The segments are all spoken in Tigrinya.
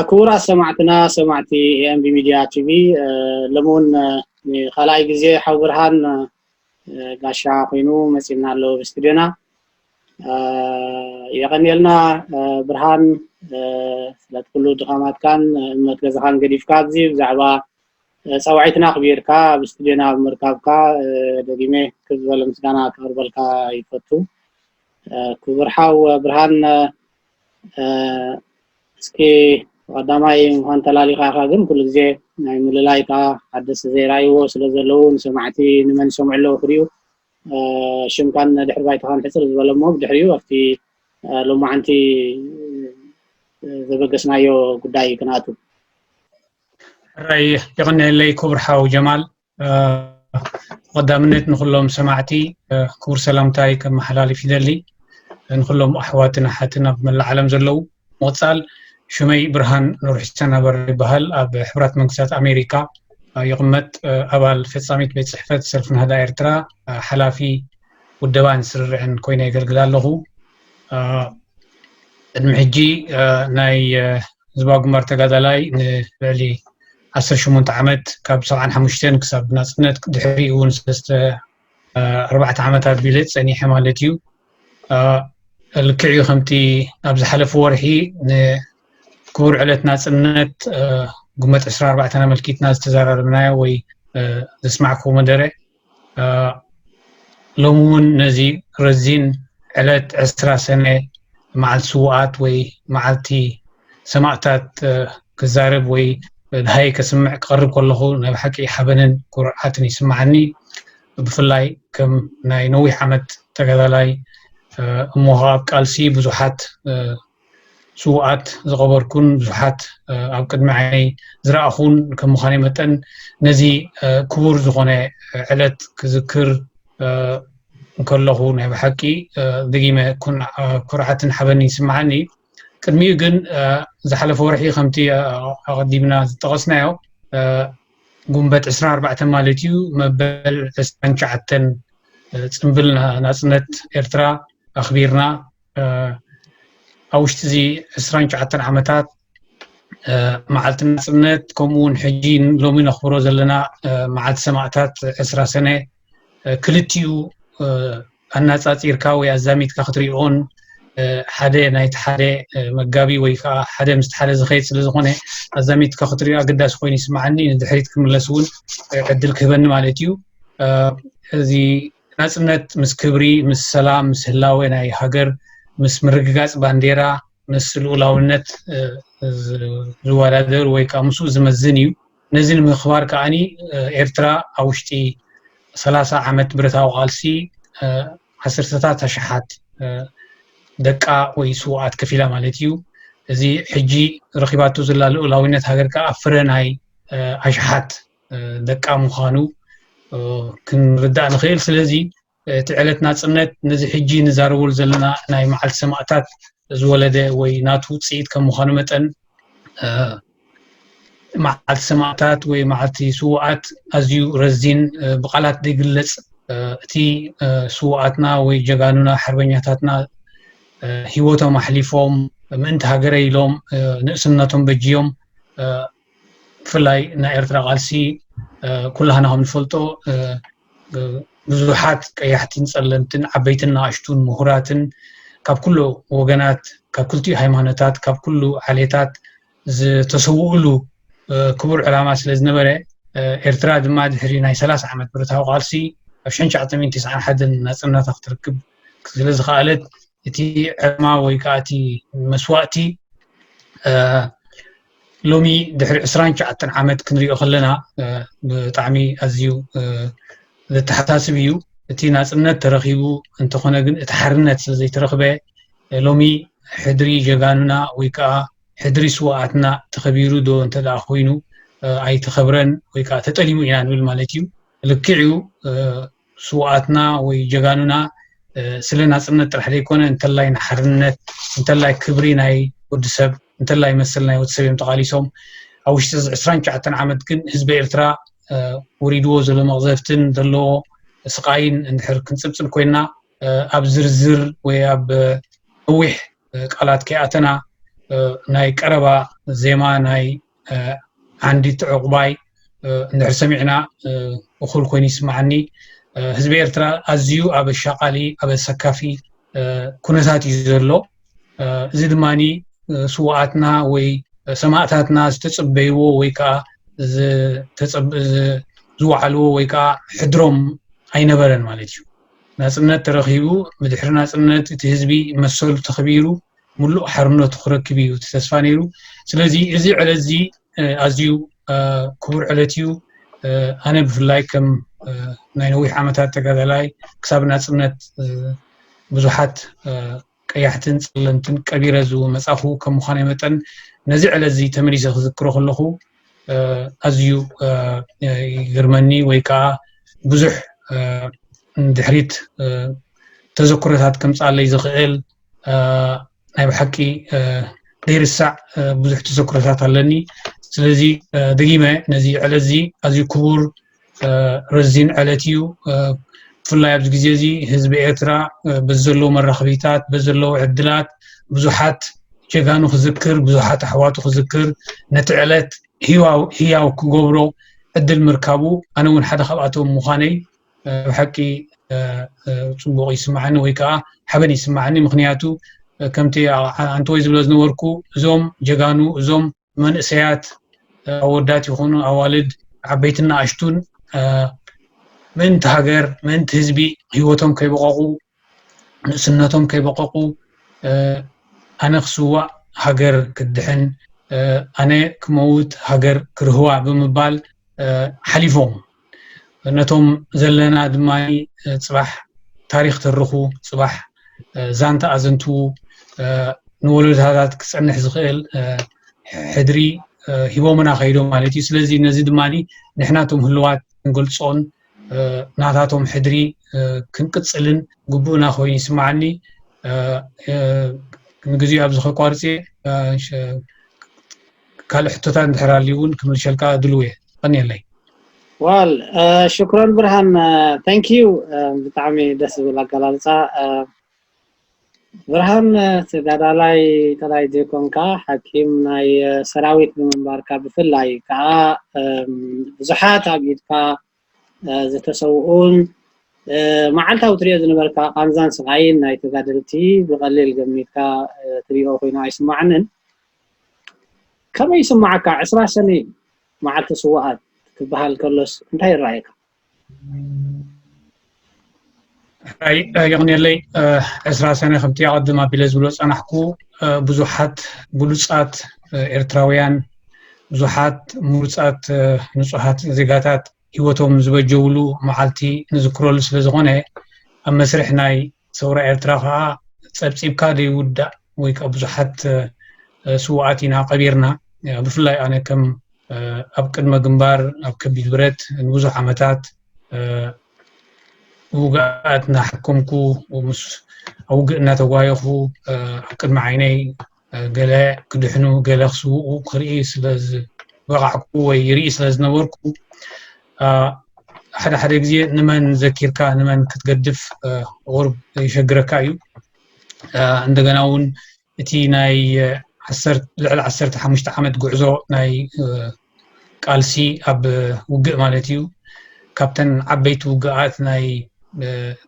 ክቡራት ሰማዕትና ሰማዕቲ ኤምቢ ሚድያ ቲቪ ሎሚ እውን ንካልኣይ ግዜ ሓው ብርሃን ጋሻ ኮይኑ መፂና ኣሎ ኣብ ስቱድዮና የቀንየልና ብርሃን ስለቲ ኩሉ ድኻማትካን እምነት ገዛኻን ገዲፍካ ኣብዚ ብዛዕባ ፃውዒትና ኣኽቢርካ ኣብ ስቱድዮና ብምርካብካ ደጊመ ክብ ዝበለ ምስጋና ክቕርበልካ ይፈቱ ክቡር ሓው ብርሃን እስኪ ቀዳማይ ምዃን ተላሊኻ ኢኻ ግን ኩሉ ግዜ ናይ ምልላይካ ሓደስቲ ዘይረኣይዎ ስለ ዘለዉ ንሰማዕቲ ንመን ይሰምዑ ኣለዉ ክሪኡ ሽምካን ድሕሪ ባይታኻን ሕጽር ዝበለ እሞ ብድሕሪኡ ኣብቲ ሎማዓንቲ ዘበገስናዮ ጉዳይ ክንኣቱ ሕራይ የቐንየለይ ክቡር ሓው ጀማል ተቐዳምነት ንኩሎም ሰማዕቲ ክቡር ሰላምታይ ከመሓላልፍ ይደሊ ንኩሎም ኣሕዋትን ኣሓትን ኣብ መላእ ዓለም ዘለዉ ምቕጻል ሽመይ ብርሃን ኑርሒሰን ኣበራ ይበሃል ኣብ ሕብራት መንግስታት ኣሜሪካ ይቕመጥ ኣባል ፈጻሚት ቤት ጽሕፈት ሰልፊ ናህዳ ኤርትራ ሓላፊ ውደባን ስርርዕን ኮይነ የገልግል ኣለኹ ቅድሚ ሕጂ ናይ ህዝባዊ ግንባር ተጋዳላይ ንልዕሊ 18 ዓመት ካብ 75 ክሳብ ናፅነት ድሕሪኡ እውን ሰለስተ ኣርባዕተ ዓመት ኣቢለ ፀኒሐ ማለት እዩ ልክዕ እዩ ከምቲ ኣብ ዝሓለፈ ወርሒ ንክቡር ዕለት ናፅነት ጉመት 24 ኣመልኪትና ዝተዘራረብናዮ ወይ ዘስማዕኩዎ መደረ ሎሚ እውን ነዚ ረዚን ዕለት ዕስራ ሰነ መዓልቲ ስውኣት ወይ መዓልቲ ሰማእታት ክዛረብ ወይ ድሃይ ከስምዕ ክቐርብ ከለኹ ናይ ብሓቂ ሓበንን ኩርዓትን ይስምዓኒ። ብፍላይ ከም ናይ ነዊሕ ዓመት ተጋዳላይ እሞ ኸኣ ኣብ ቃልሲ ብዙሓት ስውኣት ዝቐበርኩን ብዙሓት ኣብ ቅድሚ ዓይነይ ዝረኣኹን ከም ምዃነይ መጠን ነዚ ክቡር ዝኾነ ዕለት ክዝክር እንከለኹ ናይ ብሓቂ ደጊመ ኩርዓትን ሓበንን ይስምዓኒ። ቅድሚኡ ግን ዝሓለፈ ወርሒ ከምቲ ኣቐዲምና ዝጠቐስናዮ ጉንበት 24 ማለት እዩ መበል 29 ፅንብል ናፅነት ኤርትራ ኣኽቢርና ኣብ ውሽጢ እዚ 29 ዓመታት መዓልቲ ናፅነት ከምኡ እውን ሕጂ ሎሚ ነኽብሮ ዘለና መዓልቲ ሰማእታት ዕስራ ሰነ ክልቲኡ ኣናፃፂርካ ወይ ኣዛሚድካ ክትሪኦን ሓደ ናይቲ ሓደ መጋቢ ወይ ከዓ ሓደ ምስቲ ሓደ ዝኸየድ ስለ ዝኾነ ኣዛሚድካ ክትሪኦ ኣገዳሲ ኮይኑ ይስማዓኒ ንድሕሪት ክምለስ እውን ዕድል ክህበኒ ማለት እዩ እዚ ናፅነት ምስ ክብሪ ምስ ሰላም ምስ ህላወ ናይ ሃገር ምስ ምርግጋፅ ባንዴራ ምስ ልኡላውነት ዝወዳደር ወይ ከዓ ምስኡ ዝመዝን እዩ ነዚ ንምክባር ከኣ ኤርትራ ኣብ ውሽጢ ሰላሳ ዓመት ብረታዊ ቃልሲ ዓሰርተታት ኣሽሓት ደቃ ወይ ስውኣት ከፊላ ማለት እዩ እዚ ሕጂ ረኺባቶ ዘላ ልኡላዊነት ሃገር ከዓ ፍረ ናይ ኣሽሓት ደቃ ምዃኑ ክንርዳእ ንኽእል ስለዚ እቲ ዕለት ናጽነት ነዚ ሕጂ ንዛረበሉ ዘለና ናይ መዓልቲ ሰማእታት ዝወለደ ወይ ናቱ ውጽኢት ከም ምዃኑ መጠን መዓልቲ ሰማእታት ወይ መዓልቲ ስውኣት ኣዝዩ ረዚን ብቃላት ዘይግለጽ እቲ ስውኣትና ወይ ጀጋኑና ሓርበኛታትና ሂወቶም ኣሕሊፎም ምእንቲ ሃገረ ኢሎም ንእስነቶም በጅዮም ብፍላይ ናይ ኤርትራ ቃልሲ ኩላህና ከም ንፈልጦ ብዙሓት ቀያሕትን ጸለምትን ዓበይትን ንኣሽቱን ምሁራትን ካብ ኩሉ ወገናት ካብ ክልቲኡ ሃይማኖታት ካብ ኩሉ ዓሌታት ዝተሰውእሉ ክቡር ዕላማ ስለ ዝነበረ ኤርትራ ድማ ድሕሪ ናይ ሰላሳ ዓመት ብረታዊ ቃልሲ ኣብ ሸን ሸዓተ ሚእቲ ትስዓን ሓደን ናጽነታ ክትርክብ ስለ ዝኸኣለት እቲ ዕላማ ወይ ከዓ እቲ መስዋእቲ ሎሚ ድሕሪ ዕስራን ሸዓተን ዓመት ክንሪኦ ከለና ብጣዕሚ ኣዝዩ ዘተሓሳስብ እዩ እቲ ናፅነት ተረኪቡ እንተኾነ ግን እቲ ሓርነት ስለዘይተረክበ ሎሚ ሕድሪ ጀጋኑና ወይ ከዓ ሕድሪ ስዋኣትና ተኸቢሩ ዶ እንተደኣ ኮይኑ ኣይተኸብረን ወይ ከዓ ተጠሊሙ ኢና ንብል ማለት እዩ ልክዕ እዩ ስውኣትና ወይ ጀጋኑና ስለ ናፅነት ጥራሕ ዘይኮነ እንተላይ ንሓርነት እንተላይ ክብሪ ናይ ወዲ ሰብ እንተላይ መሰል ናይ ወዲ ሰብ እዮም ተቓሊሶም ኣብ ውሽጢ እዚ ዕስራን ትሽዓተን ዓመት ግን ህዝቢ ኤርትራ ወሪድዎ ዘሎ መቕዘፍትን ዘለዎ ስቓይን እንድሕር ክንፅብፅብ ኮይና ኣብ ዝርዝር ወይ ኣብ ነዊሕ ቃላት ከይኣተና ናይ ቀረባ ዜማ ናይ ዓንዲት ዕቑባይ እንድሕር ሰሚዕና እኹል ኮይኑ ይስምዓኒ ህዝቢ ኤርትራ ኣዝዩ ኣብ ኣሻቓሊ ኣብ ኣሰካፊ ኩነታት እዩ ዘሎ እዚ ድማ ስዋኣትና ወይ ሰማእታትና ዝተፅበይዎ ወይ ከዓ ዝወዓልዎ ወይ ከዓ ሕድሮም ኣይነበረን ማለት እዩ ናፅነት ተረኪቡ ብድሕሪ ናፅነት እቲ ህዝቢ መሰሉ ተኸቢሩ ምሉእ ሓርነቱ ክረክብ እዩ እቲ ተስፋ ነይሩ ስለዚ እዚ ዕለት እዚ ኣዝዩ ክቡር ዕለት እዩ ኣነ ብፍላይ ከም ናይ ነዊሕ ዓመታት ተጋዳላይ ክሳብ ናፅነት ብዙሓት ቀያሕትን ፀለምትን ቀቢረ ዝመፃኹ ከም ምዃነ መጠን ነዚ ዕለት እዚ ተመሊሰ ክዝክሮ ከለኹ ኣዝዩ ይግርመኒ ወይ ከዓ ብዙሕ ንድሕሪት ተዘክሮታት ከምፃለይ ዝኽእል ናይ ብሓቂ ዘይርሳዕ ብዙሕ ተዘክሮታት ኣለኒ ስለዚ ደጊመ ነዚ ዕለት እዚ ኣዝዩ ክቡር ረዚን ዕለት እዩ ብፍላይ ኣብዚ ግዜ እዚ ህዝቢ ኤርትራ በዚ ዘለዎ መራኽቢታት በዚ ዘለዎ ዕድላት ብዙሓት ጀጋኑ ክዝክር ብዙሓት ኣሕዋቱ ክዝክር ነቲ ዕለት ህያው ክገብሮ ዕድል ምርካቡ ኣነ እውን ሓደ ካብኣቶም ምዃነይ ናይ ብሓቂ ጽቡቕ ይስምዓኒ ወይ ከኣ ሓበን ይስምዓኒ ምኽንያቱ ከምቲ ኣንተወይ ዝብሎ ዝነበርኩ እዞም ጀጋኑ እዞም መንእሰያት ኣወዳት ይኹኑ ኣዋልድ ዓበይትን ንኣሽቱን ምእንቲ ሃገር ምእንቲ ህዝቢ ህይወቶም ከይበቐቑ ንእስነቶም ከይበቐቑ ኣነ ክስዋእ ሃገር ክትድሕን ኣነ ክመውት ሃገር ክርህዋ ብምባል ሓሊፎም ነቶም ዘለና ድማ ፅባሕ ታሪክ ተርኹ ፅባሕ ዛንታ ኣዘንትዉ ንወለዶታት ክፀንሕ ዝኽእል ሕድሪ ሂቦምና ከይዶም ማለት እዩ ስለዚ ነዚ ድማ ንሕናቶም ህልዋት ክንገልፆን ናታቶም ሕድሪ ክንቅጽልን ግቡእና ኮይኑ ይስምዓኒ ንግዜኡ ኣብዚ ከቋርጽ እየ ካልእ ሕቶታት እንድሕር ኣልዩ እውን ክምልሸልካ ድልው እየ ቀኒየለይ ዋል ሽክሮን ብርሃን ታንኪዩ ብጣዕሚ ደስ ዝብል ኣገላልፃ ብርሃን ተጋዳላይ ጥራይ ዘይኮንካ ሓኪም ናይ ሰራዊት ብምንባርካ ብፍላይ ከዓ ብዙሓት ኣብ ኢድካ ዝተሰውኡን መዓልታዊ ትሪኦ ዝነበርካ ቃንዛን ስቓይን ናይ ተጋደልቲ ብቐሊል ገሚትካ ትሪኦ ኮይኑ ኣይስማዓንን። ከመይ ይስማዓካ ዕስራ ሰነ መዓልቲ ስውኣት ክበሃል ከሎስ እንታይ ይረኣየካ? ሕራይ የቕንየለይ ዕስራ ሰነ ከምቲ ኣቐድም ኣቢለ ዝብሎ ፀናሕኩ ብዙሓት ብሉፃት ኤርትራውያን ብዙሓት ምሩፃት ንፁሃት ዜጋታት ሂወቶም ዝበጀውሉ መዓልቲ ንዝክረሉ ስለዝኾነ ኣብ መስርሕ ናይ ሰውራ ኤርትራ ከዓ ጸብጺብካ ዘይውዳእ ወይ ከዓ ብዙሓት ስውኣት ኢና ቀቢርና ብፍላይ ኣነ ከም ኣብ ቅድመ ግንባር ኣብ ከቢድ ብረት ንብዙሕ ዓመታት ውግኣት እናሓከምኩ ምስ ኣብ ውግእ እናተጓየኹ ኣብ ቅድሚ ዓይነይ ገለ ክድሕኑ ገለ ክስውኡ ክርኢ ስለ ዝበቓዕኩ ወይ ይርኢ ስለ ዝነበርኩ ሓደ ሓደ ግዜ ንመን ዘኪርካ ንመን ክትገድፍ ቁርብ ይሸግረካ እዩ እንደገና እውን እቲ ናይ ልዕሊ ዓሰርተ ሓሙሽተ ዓመት ጉዕዞ ናይ ቃልሲ ኣብ ውግእ ማለት እዩ ካብተን ዓበይቲ ውግኣት ናይ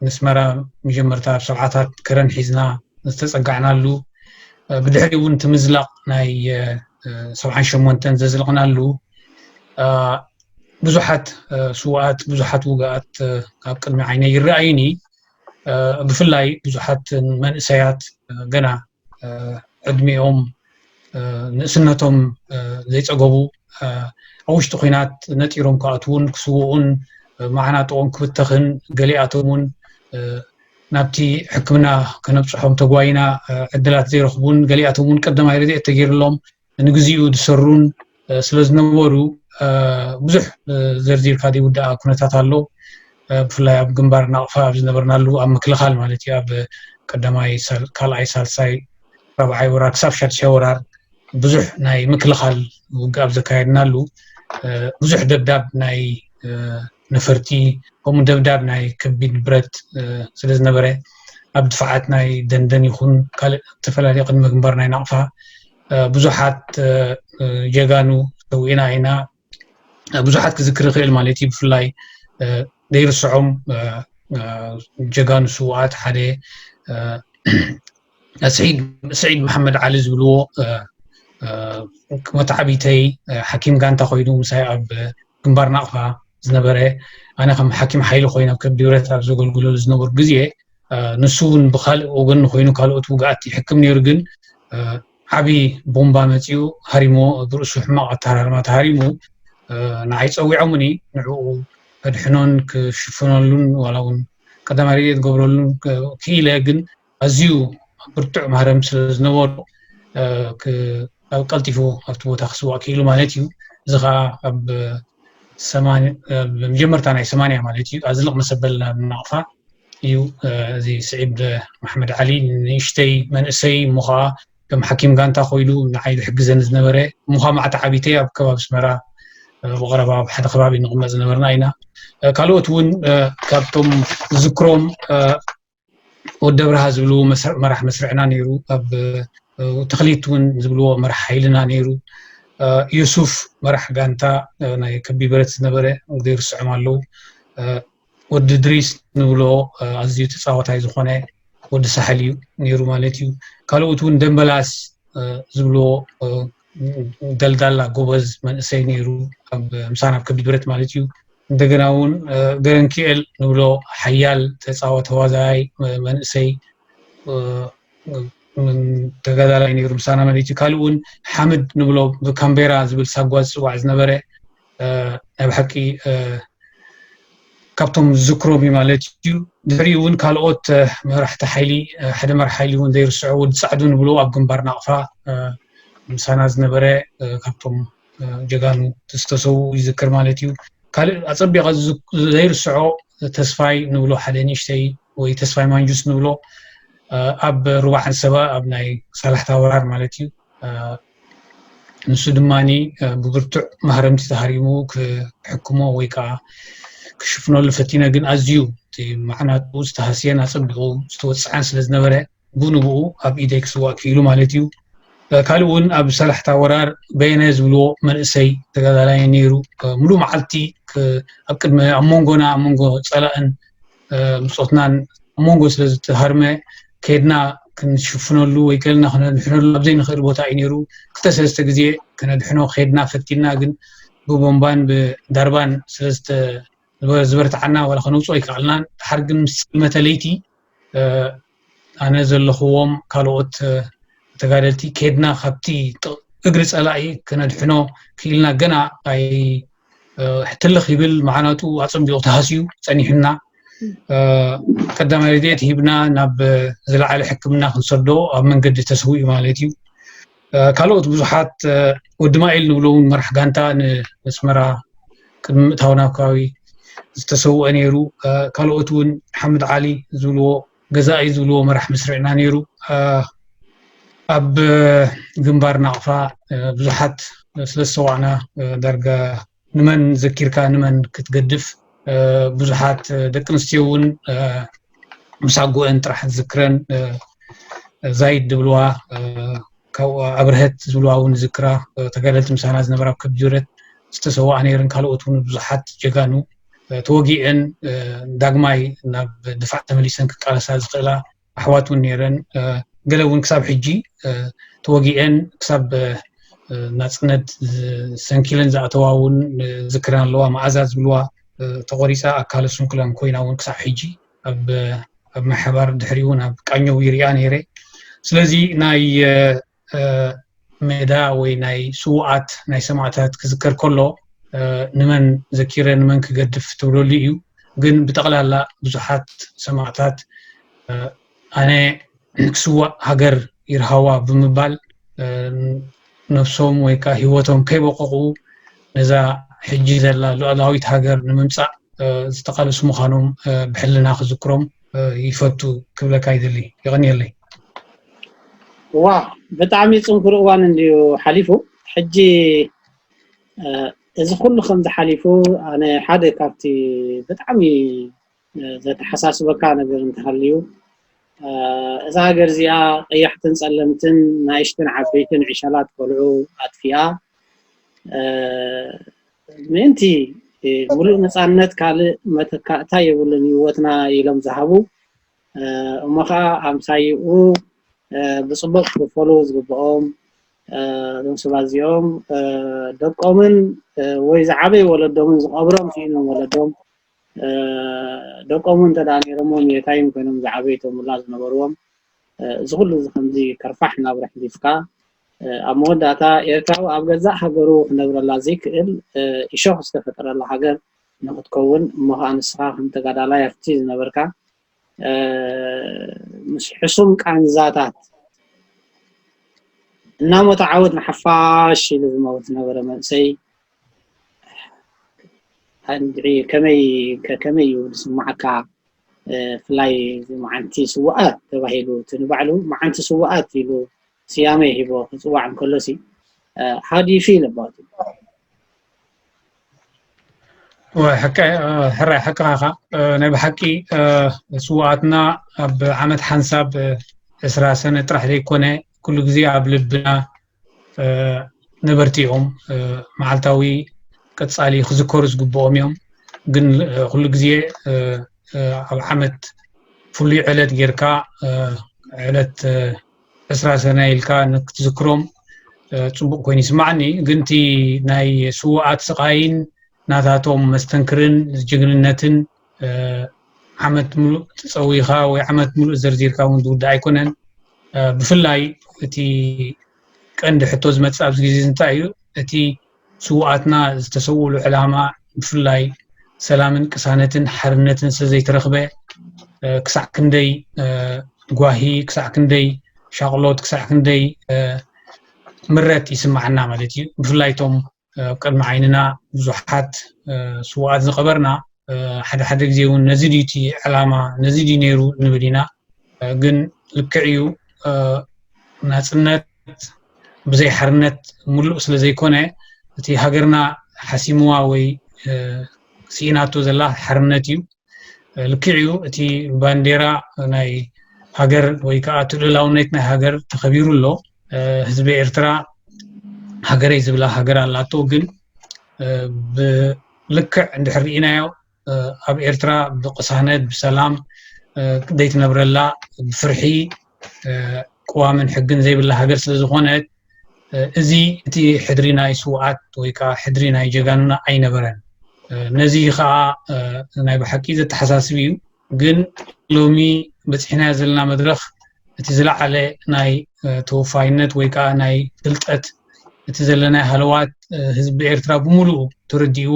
ምስመራ መጀመርታ ኣብ ሰብዓታት ከረን ሒዝና ዝተፀጋዕናሉ ብድሕሪ እውን እቲ ምዝላቕ ናይ ሰብዓን ሸሞንተን ዘዝለቕናሉ ብዙሓት ስዋኣት ብዙሓት ውግኣት ካብ ቅድሚ ዓይነ ይረኣዩኒ ብፍላይ ብዙሓት መንእሰያት ገና ዕድሚኦም ንእስነቶም ዘይፀገቡ ኣብ ውሽጢ ኩናት ነጢሮም ክኣትዉን ክስውኡን መዓናጥኦም ክብተኽን ገሊኣቶም እውን ናብቲ ሕክምና ከነብፅሖም ተጓይና ዕድላት ዘይረኽቡን ገሊኣቶም እውን ቀዳማይ ረድኤት ተገይርሎም ንግዚኡ ዝሰሩን ስለዝነበሩ ብዙሕ ዘርዚርካ ዘይውዳኣ ኩነታት ኣሎ ብፍላይ ኣብ ግንባር ናቕፋ ኣብ ዝነበርናሉ ኣብ ምክልኻል ማለት እዩ ኣብ ቀዳማይ ካልኣይ ሳልሳይ ራብዓይ ወራር ክሳብ ሻድሻይ ወራር ብዙሕ ናይ ምክልኻል ውግእ ኣብ ዘካየድናሉ ብዙሕ ደብዳብ ናይ ነፈርቲ ከምኡ ደብዳብ ናይ ከቢድ ብረት ስለ ዝነበረ ኣብ ድፋዓት ናይ ደንደን ይኹን ካልእ ዝተፈላለዩ ቅድመ ግንባር ናይ ናቕፋ ብዙሓት ጀጋኑ ሰዊእና ኢና ብዙሓት ክዝክር ይኽእል ማለት እዩ ብፍላይ ዘይርስዖም ጀጋኑ ስውኣት ሓደ ስዒድ መሓመድ ዓሊ ዝብልዎ መታዓቢተይ ሓኪም ጋንታ ኮይኑ ምሳይ ኣብ ግንባር ናቕፋ ዝነበረ ኣነ ከም ሓኪም ሓይሊ ኮይኑ ኣብ ከብዲ ብረት ኣብ ዘገልግለሉ ዝነበሩ ግዜ ንሱ እውን ብካልእ ወገን ኮይኑ ካልኦት ውግኣት ይሕክም ነይሩ ግን ዓብዪ ቦምባ መፂኡ ሃሪሞ ብርእሱ ሕማቕ ኣተሃራርማ ተሃሪሙ ንዓይ ፀዊዖምኒ ንዕኡ ከድሕኖን ክሽፍነሉን ዋላ እውን ቀዳማይ ርድት ገብረሉን ክኢለ ግን ኣዝዩ ብርቱዕ ማህረም ስለ ዝነበሮ ኣብ ቀልጢፉ ኣብቲ ቦታ ክስዋእ ክኢሉ ማለት እዩ እዚ ከዓ ኣብ መጀመርታ ናይ ሰማንያ ማለት እዩ ኣዝልቕ መሰበል ናብ ናቕፋ እዩ እዚ ስዒድ ማሕመድ ዓሊ ንእሽተይ መንእሰይ እሞ ከዓ ከም ሓኪም ጋንታ ኮይኑ ንዓይ ዝሕግዘኒ ዝነበረ እሞ ከዓ ማዕቲ ዓቢተ ኣብ ከባቢ ኣስመራ ብቐረባ ኣብ ሓደ ከባቢ ንቕመጥ ዝነበርና ኢና ካልኦት እውን ካብቶም ዝዝክሮም ወዲ ኣብርሃ ዝብልዎ መራሕ መስርዕና ነይሩ ኣብ ተኽሊት እውን ዝብልዎ መራሕ ሓይልና ነይሩ ዩሱፍ መራሕ ጋንታ ናይ ከቢ ብረት ዝነበረ ዘይርስዖም ኣለዉ ወዲ ድሪስ ንብሎ ኣዝዩ ተፃዋታይ ዝኾነ ወዲ ሳሕል እዩ ነይሩ ማለት እዩ ካልኦት እውን ደንበላስ ዝብልዎ ደልዳላ ጎበዝ መንእሰይ ነይሩ ምሳና ኣብ ከቢድ ብረት ማለት እዩ እንደገና እውን ገረንኪኤል ንብሎ ሓያል ተፃወ ተዋዛያይ መንእሰይ ተጋዳላይ ነይሩ ምሳና ማለት እዩ ካልእ እውን ሓምድ ንብሎ ብካምቤራ ዝብል ሳጓ ዝፅዋዕ ዝነበረ ናይ ብሓቂ ካብቶም ዝዝክሮም እዩ ማለት እዩ ድሕሪኡ እውን ካልኦት መራሕቲ ሓይሊ ሓደ መራሕ ሓይሊ እውን ዘይርስዖ ወዲ ፃዕዱ ንብሎ ኣብ ግንባር ናቕፋ ምሳና ዝነበረ ካብቶም ጀጋኑ ዝተሰዉ ይዝክር ማለት እዩ ካልእ ኣፀቢቐ ዘይርስዖ ተስፋይ ንብሎ ሓደ ንእሽተይ ወይ ተስፋይ ማንጁስ ንብሎ ኣብ ሩባ ዓንሰባ ኣብ ናይ ሳላሕታ ወራር ማለት እዩ ንሱ ድማ ብብርቱዕ ማህረምቲ ተሃሪሙ ክሕክሞ ወይ ከዓ ክሽፍነሉ ፈቲነ ግን ኣዝዩ እቲ ማዕናጡ ዝተሃስየን ኣፀቢቑ ዝተወፅዐን ስለ ዝነበረ ብንብኡ ኣብ ኢደይ ክስዋእ ክኢሉ ማለት እዩ ካልእ እውን ኣብ ሰላሕታ ወራር በየነ ዝብልዎ መንእሰይ ተጋዳላይ ነይሩ ሙሉእ መዓልቲ ኣብ ቅድሚ ኣብ መንጎና ኣብ መንጎ ፀላእን ብጾትናን ኣብ መንጎ ስለ ዝተሃርመ ከድና ክንሽፍነሉ ወይ ከልና ክነድሕነሉ ኣብ ዘይንኽእል ቦታ እዩ ነይሩ ክልተ ሰለስተ ግዜ ክነድሕኖ ከድና ፈቲና ግን ብቦምባን ብዳርባን ስለ ዝበርትዓና ዋላ ከነውፅኦ ኣይከኣልናን ድሓር ግን ምስ ፅልመተ ለይቲ ኣነ ዘለኽዎም ካልኦት ተጋደልቲ ከድና ካብቲ እግሪ ፀላኢ ክነድሕኖ ክኢልና ገና ኣይ ትልኽ ይብል መዓናጡ ኣፀቢቑ ተሃስዩ ፀኒሑና ቀዳማይ ረድኤት ሂብና ናብ ዝለዓለ ሕክምና ክንሰዶ ኣብ መንገዲ ተስውኡ ማለት እዩ ካልኦት ብዙሓት ወዲ ማይል ንብሎ እውን መራሕ ጋንታ ንመስመራ ቅድሚ ምእታው ናብ ከባቢ ዝተሰውአ ነይሩ ካልኦት እውን ሓምድ ዓሊ ዝብልዎ ገዛኢ ዝብልዎ መራሕ መስርዕና ነይሩ ኣብ ግንባር ናቕፋ ብዙሓት ስለ ዝሰዋዕና ዳርጋ ንመን ዘኪርካ ንመን ክትገድፍ ብዙሓት ደቂ ኣንስትዮ እውን ምስ ኣጎአን ጥራሕ ዝክረን ዛይድ ዝብልዋ ካብኡ ኣብርሀት ዝብልዋ እውን ዝክራ ተጋደልቲ ምሳና ዝነበራ ኣብ ከብጅረት ዝተሰዋኣ ነይረን ካልኦት እውን ብዙሓት ጀጋኑ ተወጊዐን ዳግማይ ናብ ድፋዕ ተመሊሰን ክቃለሳ ዝኽእላ ኣሕዋት እውን ነይረን ገለ እውን ክሳብ ሕጂ ተወጊኤን ክሳብ ናፅነት ሰንኪለን ዝኣተዋ እውን ዝክረን ኣለዋ መዓዛ ዝብልዋ ተቆሪፃ ኣካለ ስንኩላን ኮይና እውን ክሳብ ሕጂ ኣብ ማሕባር ድሕሪ እውን ኣብ ቃኘው ይሪኣ ነይረ ስለዚ ናይ ሜዳ ወይ ናይ ስዉኣት ናይ ሰማእታት ክዝከር ከሎ ንመን ዘኪረ ንመን ክገድፍ ትብለሉ እዩ ግን ብጠቕላላ ብዙሓት ሰማእታት ኣነ ክስዋእ ሃገር ይርሃዋ ብምባል ነብሶም ወይ ከዓ ሂወቶም ከይበቆቑ ነዛ ሕጂ ዘላ ሉኣላዊት ሃገር ንምምፃእ ዝተቃለሱ ምዃኖም ብሕልና ክዝክሮም ይፈቱ ክብለካ ይደሊ የቀንየለይ። ዋው ብጣዕሚ ጽንኩር እዋን እንድዩ ሓሊፉ ሕጂ እዚ ኩሉ ከምዚ ሓሊፉ ኣነ ሓደ ካብቲ ብጣዕሚ ዘተሓሳስበካ ነገር እንተሃልዩ እዛ ሃገር እዚኣ ቀያሕትን ጸለምትን ናይሽትን ዓበይትን ዕሸላት ቆልዑ ኣጥፊኣ ምእንቲ ሙሉእ ነፃነት ካልእ መተካእታ የብሉን ህይወትና ኢሎም ዝሃቡ እሞ ከዓ ኣምሳይኡ ብፅቡቅ ክኽፈሉ ዝግብኦም እዞም ሰባት እዚኦም ደቆምን ወይ ዝዓበየ ወለዶምን ዝቐብሮም ስኢኖም ወለዶም ደቆም እንተደኣ ነይሮሞም የታይም ኮይኖም ዝዓበዩ እቶም ውላድ ዝነበርዎም እዚ ኩሉ እዚ ከምዚ ከርፋሕ ናብራ ሕሊፍካ ኣብ መወዳእታ ኤርትራዊ ኣብ ገዛእ ሃገሩ ክነብረላ ዘይክእል እሾኽ ዝተፈጠረላ ሃገር ንኽትከውን እሞ ኸኣ ንስኻ ከም ተጋዳላይ ኣብቲ ዝነበርካ ምስ ሕሱም ቃንዛታት እናሞተ ዓወት ንሓፋሽ ኢሉ ዝመውት ዝነበረ መንእሰይ እንድዒ ከመይ ከመይ እዩ ዝስምዓካ ብፍላይ መዓልቲ ስዋኣት ተባሂሉ እቲ ንባዕሉ መዓልቲ ስዋኣት ኢሉ ስያሜ ሂቦ ክጽዋዕ እንከሎ ሲ how do you feel about it ሕራይ ሓቅኻ ኢኻ ናይ ብሓቂ ስዋኣትና ኣብ ዓመት ሓንሳብ ዕስራ ሰነ ጥራሕ ዘይኮነ ኩሉ ግዜ ኣብ ልብና ነበርቲ እዮም መዓልታዊ ቀፃሊ ክዝከሩ ዝግብኦም እዮም ግን ኩሉ ግዜ ኣብ ዓመት ፍሉይ ዕለት ጌርካ ዕለት ዕስራ ሰነ ኢልካ ንክትዝክሮም ፅቡቅ ኮይኑ ይስማዓኒ ግን እቲ ናይ ስዋኣት ስቃይን ናታቶም መስተንክርን ጅግንነትን ዓመት ሙሉእ ፀዊካ ወይ ዓመት ሙሉእ ዘርዚርካ እውን ዝውዳእ ኣይኮነን ብፍላይ እቲ ቀንዲ ሕቶ ዝመፅእ ኣብዚ ግዜ እንታይ እዩ እቲ ስውኣትና ዝተሰውእሉ ዕላማ ብፍላይ ሰላምን ቅሳነትን ሓርነትን ስለዘይተረኽበ ክሳዕ ክንደይ ጓሂ ክሳዕ ክንደይ ሻቕሎት ክሳዕ ክንደይ ምረት ይስማዓና ማለት እዩ ብፍላይ እቶም ኣብ ቅድሚ ዓይንና ብዙሓት ስውኣት ዝቐበርና ሓደ ሓደ ግዜ እውን ነዚ ድዩ እቲ ዕላማ ነዚ ድዩ ነይሩ ንብል ኢና ግን ልክዕ እዩ ናፅነት ብዘይ ሓርነት ምሉእ ስለ ዘይኮነ እቲ ሃገርና ሓሲምዋ ወይ ስኢናቶ ዘላ ሓርነት እዩ ልክዕ እዩ እቲ ባንዴራ ናይ ሃገር ወይ ከዓ እቲ ልእላውነት ናይ ሃገር ተኸቢሩ ኣሎ ህዝቢ ኤርትራ ሃገረይ ዝብላ ሃገር ኣላቶ ግን ብልክዕ እንድሕር ርኢናዮ ኣብ ኤርትራ ብቅሳነት ብሰላም ዘይትነብረላ ብፍርሒ ቅዋምን ሕግን ዘይብላ ሃገር ስለ ዝኾነት እዚ እቲ ሕድሪ ናይ ስውኣት ወይ ከዓ ሕድሪ ናይ ጀጋኑና ኣይነበረን ነዚ ከዓ ናይ ብሓቂ ዘተሓሳስብ እዩ ግን ሎሚ በፂሕናዮ ዘለና መድረኽ እቲ ዝለዓለ ናይ ተወፋይነት ወይ ከዓ ናይ ፍልጠት እቲ ዘለና ሃለዋት ህዝቢ ኤርትራ ብምሉኡ ተረዲእዎ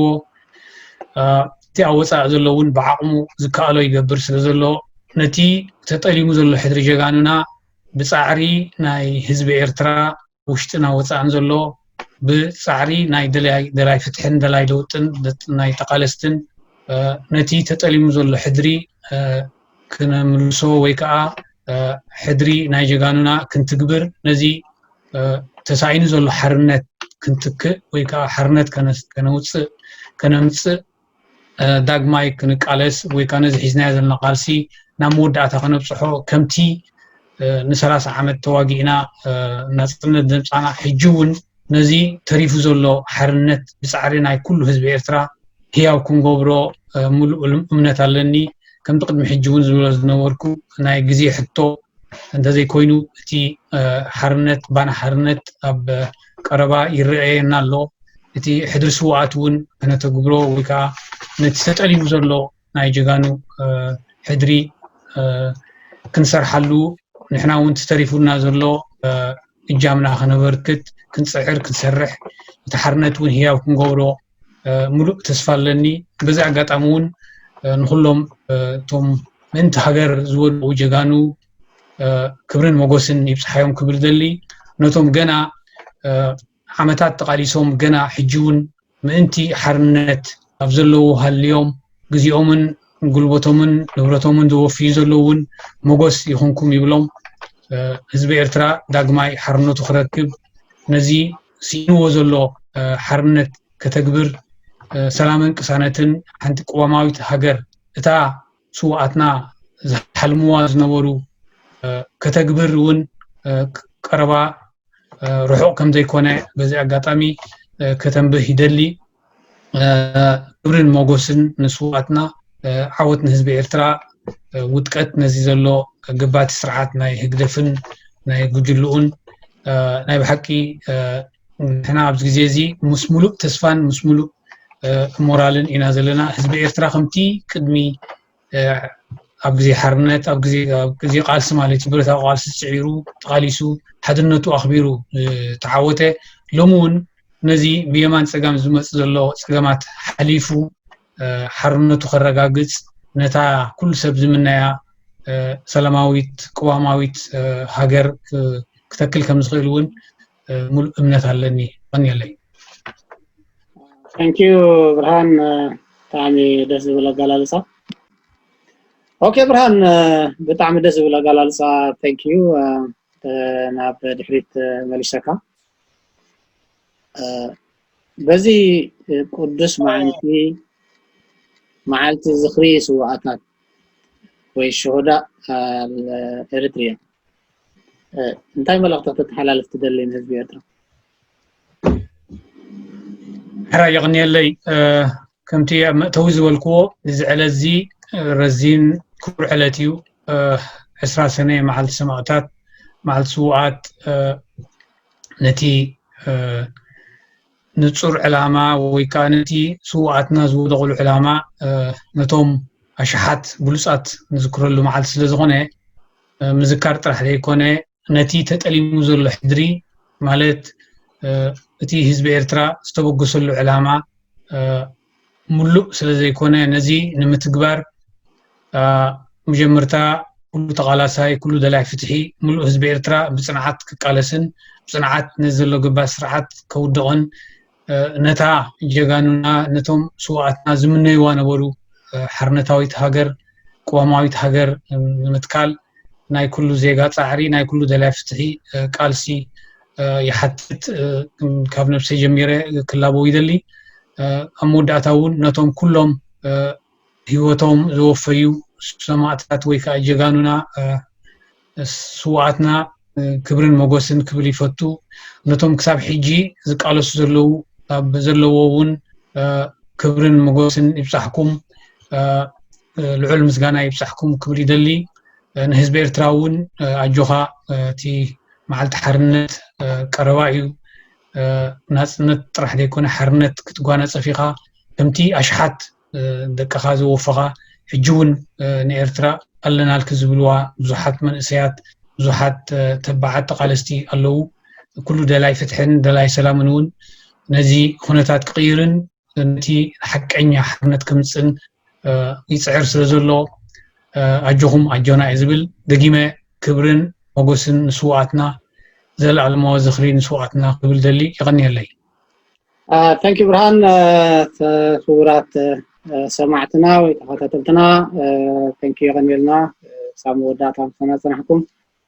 እቲ ኣብ ወፃኢ ዘሎ እውን ብዓቕሙ ዝከኣሎ ይገብር ስለ ዘሎ ነቲ ተጠሊሙ ዘሎ ሕድሪ ጀጋኑና ብፃዕሪ ናይ ህዝቢ ኤርትራ ውሽጥና ወፃእን ዘሎ ብፃዕሪ ናይ ደላይ ፍትሕን ደላይ ለውጥን ናይ ተቓለስትን ነቲ ተጠሊሙ ዘሎ ሕድሪ ክንምልሶ ወይ ከዓ ሕድሪ ናይ ጀጋኑና ክንትግብር ነዚ ተሳኢኑ ዘሎ ሓርነት ክንትክእ ወይ ከዓ ሓርነት ከነውፅእ ከነምፅእ ዳግማይ ክንቃለስ ወይ ከዓ ነዚ ሒዝናዮ ዘለና ቃልሲ ናብ መወዳእታ ከነብፅሖ ከምቲ ንሰላሳ ዓመት ተዋጊእና ናፅነት ዘምፃና ሕጂ እውን ነዚ ተሪፉ ዘሎ ሓርነት ብጻዕሪ ናይ ኩሉ ህዝቢ ኤርትራ ህያው ክንገብሮ ምሉእ እምነት ኣለኒ። ከምቲ ቅድሚ ሕጂ እውን ዝብሎ ዝነበርኩ ናይ ግዜ ሕቶ እንተዘይኮይኑ እቲ ሓርነት ባና ሓርነት ኣብ ቀረባ ይረኣየና ኣሎ። እቲ ሕድሪ ስውኣት እውን ክነተግብሮ ወይ ከዓ ነቲ ተጠሊሙ ዘሎ ናይ ጀጋኑ ሕድሪ ክንሰርሓሉ ንሕና እውን ተሪፉና ዘሎ እጃምና ከነበርክት ክንፅዕር ክንሰርሕ እቲ ሓርነት እውን ህያው ክንገብሮ ሙሉእ ተስፋ ኣለኒ በዚ ኣጋጣሚ እውን ንኩሎም እቶም ምእንቲ ሃገር ዝወድኡ ጀጋኑ ክብርን መጎስን ይብፅሓዮም ክብል ዘሊ ነቶም ገና ዓመታት ተቓሊሶም ገና ሕጂ'ውን ምእንቲ ሓርነት ኣብ ዘለዉ ሃልዮም ግዜኦምን ጉልበቶምን ንብረቶምን ዘወፍዩ ዘለዉ ውን ሞጎስ ይኹንኩም ይብሎም። ህዝቢ ኤርትራ ዳግማይ ሓርነቱ ክረክብ ነዚ ስኢንዎ ዘሎ ሓርነት ከተግብር ሰላምን ቅሳነትን ሓንቲ ቅዋማዊት ሃገር እታ ስውኣትና ዝሓልምዋ ዝነበሩ ከተግብር እውን ቀረባ ርሑቕ ከም ዘይኮነ በዚ ኣጋጣሚ ከተንብህ ይደሊ ክብርን ሞጎስን ንስውኣትና ዓወት ንህዝቢ ኤርትራ ውጥቀት ነዚ ዘሎ ገባቲ ስርዓት ናይ ህግደፍን ናይ ጉጅልኡን ናይ ብሓቂ ንሕና ኣብዚ ግዜ እዚ ምስ ሙሉእ ተስፋን ምስ ሙሉእ ሞራልን ኢና ዘለና ህዝቢ ኤርትራ ከምቲ ቅድሚ ኣብ ግዜ ሓርነት ኣብ ግዜ ቃልሲ ማለት እዩ ብረታዊ ቃልሲ ስዒሩ ተቓሊሱ ሓድነቱ ኣኽቢሩ ተዓወተ ሎሚ እውን ነዚ ብየማን ፀጋም ዝመፅ ዘሎ ፀገማት ሓሊፉ ሓርነቱ ከረጋግፅ ነታ ኩሉ ሰብ ዝምነያ ሰላማዊት ቅዋማዊት ሃገር ክተክል ከም ዝኽእል እውን ሙሉእ እምነት ኣለኒ ቀንየለይ ታንኪዩ ብርሃን ብጣዕሚ ደስ ዝብል ኣገላልፃ ኦኬ ብርሃን ብጣዕሚ ደስ ዝብል ኣገላልፃ ታንኪዩ ናብ ድሕሪት መሊሰካ በዚ ቅዱስ መዓልቲ መዓልቲ ዝኽሪ ስዋኣታት ወይ ሸሆዳ ኤርትሪያ እንታይ መልእኽቲ ከተተሓላልፍ ትደሊ ንህዝቢ ኤርትራ? ሕራይ የቕንየለይ ከምቲ ኣብ መእተዊ ዝበልክዎ እዚ ዕለት እዚ ረዚን ክቡር ዕለት እዩ ዕስራ ሰነ መዓልቲ ሰማእታት መዓልቲ ስውኣት ነቲ ንጹር ዕላማ ወይ ከኣ ነቲ ስውኣትና ዝወደቕሉ ዕላማ ነቶም ኣሽሓት ብሉጻት ንዝክረሉ መዓልቲ ስለ ዝኾነ ምዝካር ጥራሕ ዘይኮነ ነቲ ተጠሊሙ ዘሎ ሕድሪ ማለት እቲ ህዝቢ ኤርትራ ዝተበገሰሉ ዕላማ ምሉእ ስለ ዘይኮነ ነዚ ንምትግባር መጀመርታ ኩሉ ተቓላሳይ ኩሉ ደላይ ፍትሒ ምሉእ ህዝቢ ኤርትራ ብፅንዓት ክቃለስን ብፅንዓት ነዚ ዘሎ ገባር ስርዓት ከውድቕን ነታ ጀጋኑና ነቶም ስዋኣትና ዝምነይዋ ነበሩ ሓርነታዊት ሃገር ቅዋማዊት ሃገር ንምትካል ናይ ኩሉ ዜጋ ፃዕሪ ናይ ኩሉ ደላይ ፍትሒ ቃልሲ ይሓትት ካብ ነብሰይ ጀሚረ ክላበው ይደሊ ኣብ መወዳእታ እውን ነቶም ኩሎም ህይወቶም ዘወፈዩ ሰማእታት ወይ ከዓ ጀጋኑና ስዋኣትና ክብርን መጎስን ክብል ይፈቱ ነቶም ክሳብ ሕጂ ዝቃለሱ ዘለዉ ኣብ ዘለዎ እውን ክብርን መጎስን ይብፃሕኩም ልዑል ምስጋና ይብፃሕኩም ክብል ይደሊ ንህዝቢ ኤርትራ እውን ኣጆኻ እቲ መዓልቲ ሓርነት ቀረባ እዩ ናጽነት ጥራሕ ዘይኮነ ሓርነት ክትጓናጸፍ ኢኻ ከምቲ ኣሽሓት ደቅኻ ዘወፈኻ ሕጂ እውን ንኤርትራ ኣለናልኪ ዝብልዋ ብዙሓት መንእሰያት ብዙሓት ተባዓት ተቓለስቲ ኣለዉ ኩሉ ደላይ ፍትሕን ደላይ ሰላምን እውን ነዚ ኩነታት ክቕይርን ነቲ ሓቀኛ ሓርነት ከምጽእን ይጽዕር ስለ ዘሎ ኣጆኹም ኣጆና እዩ ዝብል ደጊመ ክብርን ሞጎስን ንስዋኣትና ዘለኣለማዊ ዝኽሪ ንስዋኣትና ክብል ደሊ ይቐንየለይ ታንኪ ብርሃን ክቡራት ሰማዕትና ወይ ተኸታተልትና ታንኪ ይቐንየልና ክሳብ መወዳእታ ምሳና ጽናሕኩም